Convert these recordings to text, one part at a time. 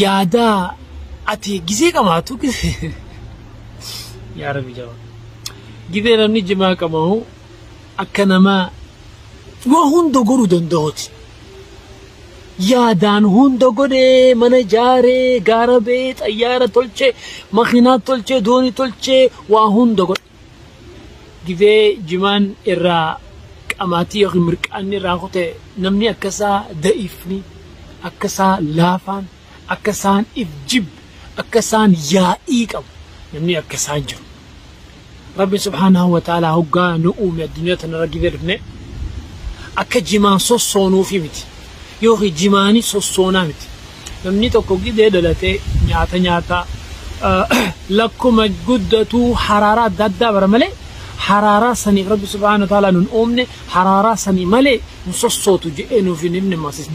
yaada ati gizee qabaatu yaa rabbi jaba gizee namni jimaa qabahu akka nama waa hunda godhuu danda'uti yaadaan hunda godhee mana ijaaree gaara ba'ee xayyaara tolchee makiinaa tolchee doonii tolchee waa hunda godhe Gifee jimaan irraa qamaatii yookiin mirqaanni irraa kute namni akka isaa da'ifni, akka isaa laafaan, akka isaan if jibbe, akka isaan yaa'ii qabu namni akka isaa hin jiru. Rabbi subhaanahu wa ta'aalaa hoggaa nu uume addunyaa tanarra gifee dhufne akka jimaan sossoonuufi miti. Yoo kijibaani sossoona miti. Namni tokko gidee dhalatee nyaata nyaataa lakkuma guddatuu haraaraa adda addaa bara malee haraaraa saniif rabbi subhaana taalaa nun uumne haraaraa sanii malee hin sossootu jedhee nuuf hin himne masis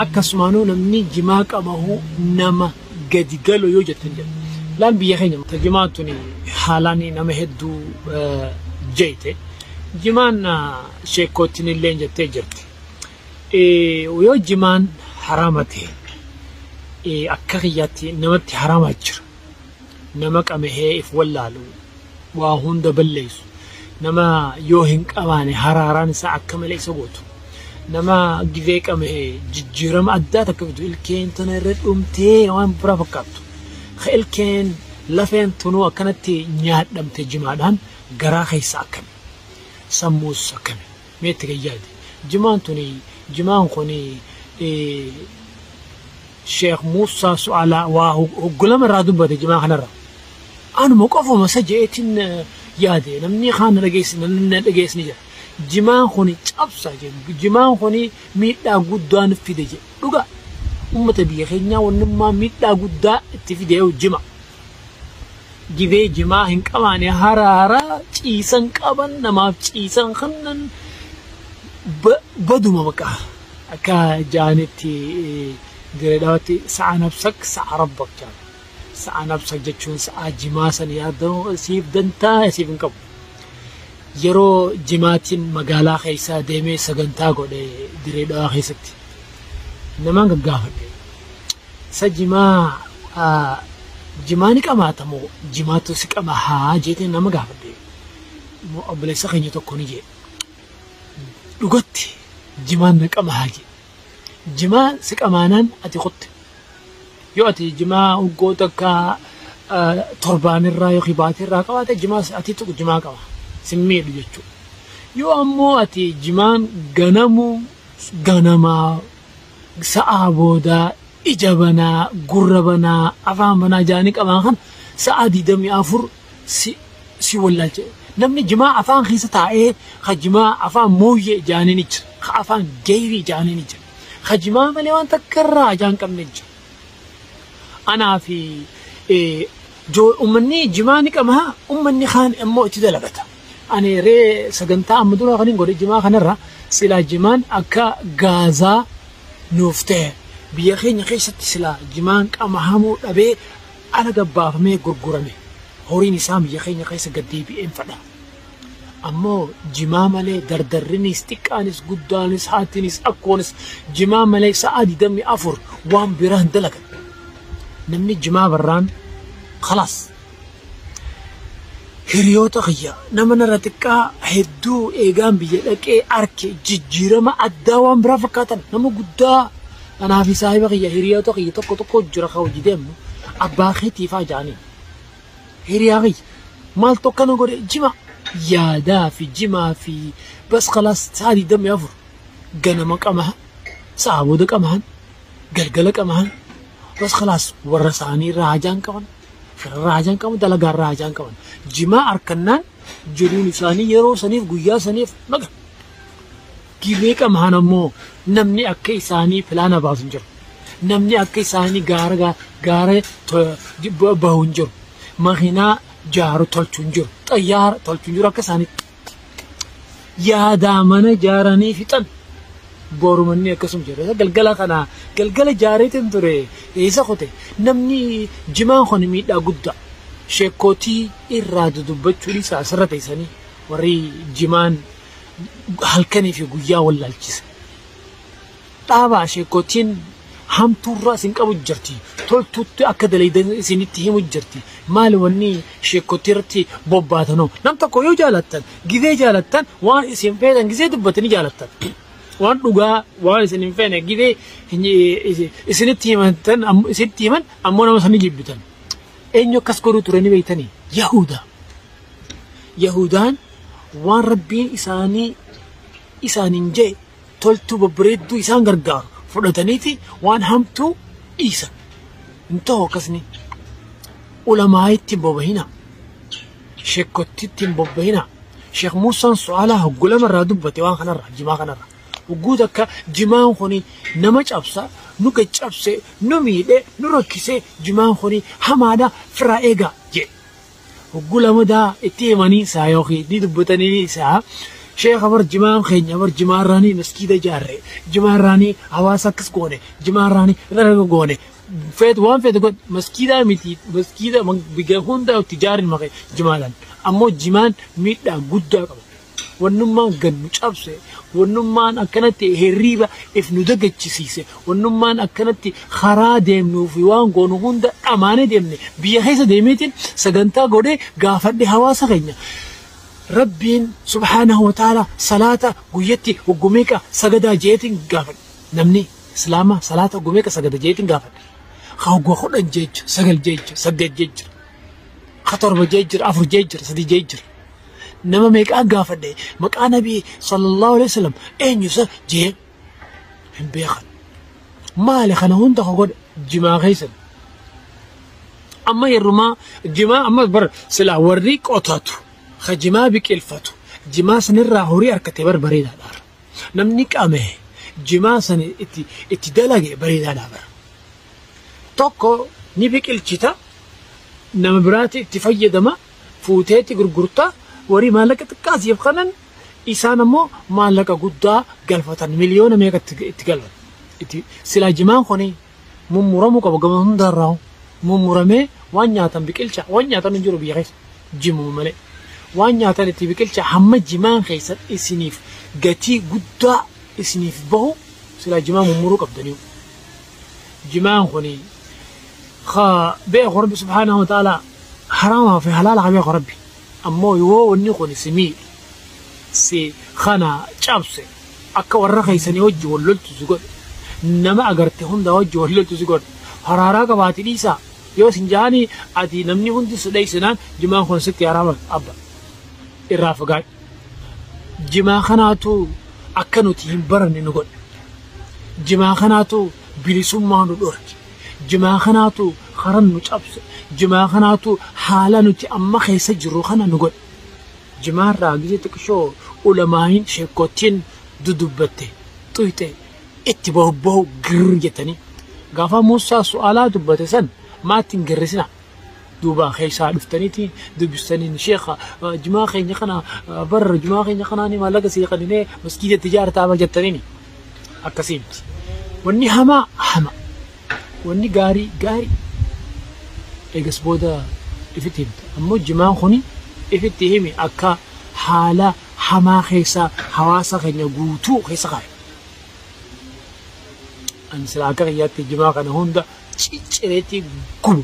akkasumaanuu namni jimaa qamahuu nama gadi galo yoo jettan jedha laan biyya keenya ta jimaa tuni haalaani nama hedduu jeyte jimaan sheekkoottinillee jettee jirti. Yoo jimaan haraama ta'e akka kiyyaatti namatti haraama jira. Nama qamahee if wallaalu waa hunda balleessu. Nama yoo hin qabaane haraaraan isaa akka malee isa gootu. Nama gizee qamahee jijjiirama addaa takka fidu ilkeen tana irra dhumtee waan biraa fakkaattu. Ka ilkeen lafeen tunuu akkanatti nyaadhamte jimaadhaan garaa keessa akkami. Sammuus akkami. Mee itti gad yaadi. Jimaan tuni, jimaan kuni Sheikh Muusaa Su'aalaa waa hoggu lama irraa dubbate jimaa kanarra. Anuma qofuma isa je'eetiin yaade namni kaan na dhageessi namni na dhageessi ni jira. Jimaan kuni cabsa jedhu jimaan kuni miidhaa guddaa nu fide jedhu dhugaa. Uummata biyya keenyaa wannummaa miidhaa guddaa itti fide yoo jima. Gibee jimaa hin qabaane haraa haraa ciisan qaban namaaf ciisan kannan baduma baqa akka ja'anitti dire dhawatti sa'a nabsak sa'a rabbak ja'an sa'a nabsak jechuun sa'a jimaa san yaaddan siif dantaa siif hin qabu yeroo jimaatiin magaalaa keessaa deemee sagantaa godhe dire dhawaa keessatti namaan gaggaafadhe Sa jimaa aa jimaa ni qamaata moo jimaatu si qama haa jeete nama gaafadhe mo obboleessa keenya tokko ni jee dhugatti jimaan na qama haa jee jimaa si qamaanaan ati kutte yoo ati jimaa hoggoo takka torbaamirraa yookiin baatirraa qabaate jimaa ati tuqu jimaa qaba sin miidhu jechuudha yoo ammoo ati jimaan ganamuu ganamaa sa'aa booda ija banaa, gurra banaa, afaan banaa jaanii qabaan kana sa'aa 24 si si wallaalcha. Namni jimaa afaan keessa taa'ee ka jimaa afaan mooyyee jaanii ni jira. Ka afaan geeyrii jaanii ni jira. Ka jimaa malee waan takka irraa ajaa hin qabne jira. Anaa fi eh, joo ummanni jimaa ni qaba ummanni kaan immoo itti dalagata. Ani ree sagantaa amma dura kanin godhe jimaa kanarra silaa jimaan akka gaazaa nuuf ta'e biyya keenya keessatti silaa jimaan qama hamuu dhabee ala gabbaafamee gurgurame horiin isaa biyya keenya keessa gad deebi'een fadha. Ammoo jimaa malee dardarrinis xiqqaanis guddaanis haatinis akkoonis jimaa malee sa'aa 24 waan biraa hin dalagan. Namni jimaa barraan kalaas. Hiriyoota kiyya nama narra xiqqaa hedduu eegaan biyya dhaqee arke jijjiirama addaa waan biraa fakkaatan nama guddaa anaa fi saahiba kiyya hiriyoota kiyya tokko tokko jira ka hojii deemnu abbaa keetii faa jaaniin. Hiriyaa kiyya maaltu akkana godhe jima yaadaa fi jimaa fi bas kalaas sa'a digdamii afur ganama qamahan sa'a booda qamahan galgala qabahan bas khalaas warra isaanii irraa hajaan qaban firarraa hajaan qaban dalagaarraa hajaan qaban jimaa arkannaan jiruun isaanii yeroo saniif guyyaa saniif baga gibee qabahan ammoo namni akka isaanii filaana baasu hin jiru namni akka isaanii gaara gaa- gaara to- jibba bahu hin jiru makiinaa jaaru tolchu hin jiru xayyaara tolchu hin jiru akka isaaniitti yaadaa mana ijaaranii fixan boru manni akkasuma jira galgala kana galgala jaareetiin ture eessa kute namni jimaan kun miidhaa guddaa sheekkootii irraa dudubbachuu dhiisaa asirra teessanii warri jimaan halkanii fi guyyaa wallaalchisa. Dhaabaa sheekkotiin hamtuu irraa isin qabu jirti. Toltuutti akka dalaydan isinitti himu jirti. Maali wanni sheekkotii irratti bobbaatanu. Nam tokko yoo jaalattan, gizee jaalattan waan isin feetan gizee dubbatanii jaalattan. Waan dhugaa waan isin hin feene gizee isinitti himantan isinitti himan ammoo nama sanii jibbitan. Eenyu akkas godhuu ture ni beeytanii? Yahuudaa. Yahuudaan waan rabbiin isaanii isaaniin jee toltuu babbareedduu isaan gargaaru fudhataniiti waan hamtuu dhiisan. Hin ta'u akkasni. Ulamaayitti hin bobahina. Shekkottitti hin bobbahina. Sheekh Muusaan su'aalaa hoggu lama irraa dubbate waan kanarra jimaa kanarra. Hogguu takka jimaan kuni nama cabsa nu gaccabse nu miidhe nu rakkise jimaan kuni hamaadha firaa eegaa jedhe. hogguu lamadaa itti himanii isaa yookiin itti dubbatanii isaa sheekha bar jimaam keenya bar jimaarraanii maskiida jaarre jimaarraanii hawaasa akkas goone jimaarraanii dalaga goone feet waan feet godhe maskiidaa miti maskiida biyya hundaa itti jaarin maqe jimaadhaan ammoo jimaan miidhaa guddaa qaba Wannummaan gad nu cabse, wannummaan akkanatti hirriiba if nu dagachisiise, wannummaan akkanatti karaa deemnuu fi waan goonu hunda dhamaanee deemne biyya keessa deemeetiin sagantaa godhee gaafadhe hawaasa keenya. Rabbiin subhaanahu wa ta'ala salaata guyyatti hoggu meeqa sagadaa jeetiin gaafadhe. Namni islaamaa salaata hoggu meeqa sagada jeetiin gaafadhe. Ka hoggu kudhan jeecha, sagal jeecha, saddeet jeecha. ka torba jee jira afur jee jira sadii jee jira nama meeqaa gaafadhe maqaa nabii sallallahu alaihi wasallam eenyu isa jee hin beekan maali kana hunda ka godhe jimaa keessan amma yerrumaa jimaa amma bar silaa warri qotatu ka jimaa biqilfatu jimaa sanirraa horii harkate bar bareedaadhaar namni qame jimaa sani itti itti dalage bareedaadhaa bara Tokko ni biqilchita, nama biraati itti fayyadama, fuuteeti gurgurta, warri maallaqa xiqqaa siif kanan isaan ammoo maallaqa guddaa galfatan miliyoona meeqa itti itti galfatan. Itti silaa jimaan kuni mummuramuu qaba gama hundarraa mummuramee waan nyaatan biqilcha waan nyaatan hin jiru biyya keessa jimuma malee. Waan nyaatan itti biqilcha hamma jimaan keessan isiniif gatii guddaa isiniif bahu silaa jimaa mummuruu qabdaniiru. jimaan kuni ka beeku rabbi subhaanahu wa ta'ala haraama fi halaala ka beeku rabbi ammoo yoo wanni kuni si miidhe si kana cabse akka warra keessanii wajji wal loltu si godhe nama agarte hundaa wajji wal loltu si godhe haraaraa qabaati dhiisaa yoo sin jaanii ati namni hundi si dheessinaan jimaan kun sitti haraama abba irraa fagaadhu. jimaa kanaatu akka nuti hin baranne nu godhe. Jimaa kanaatu bilisummaa nu dhorke. Jimaa kanaatu karan nu cabse. Jimaa kanaatu haala nuti amma keessa jirru kana nu godhe. Jimaarraa gise xiqqishoo ulamaayin sheekkottiin dudubbatte xuyxe itti bobba'u girr jettanii. Gaafa Muusaa su'aalaa dubbate san maatti hin girrisina. duuba keessaa dhuftaniiti dubbistaniin sheekha jumaa keenya kana barra jumaa keenya kanaani maallaqa sii qaninee maskiida itti jaartaa bar jettaniini akkasii miti wanni hamaa hama wanni gaarii gaarii eegas booda ifitti himta ammoo jumaan kuni ifitti himi akka haala hamaa keessaa hawaasa keenya guutuu keessa kaa'e ani silaa akka kiyyaatti jumaa kana hunda ciccireetii gubu.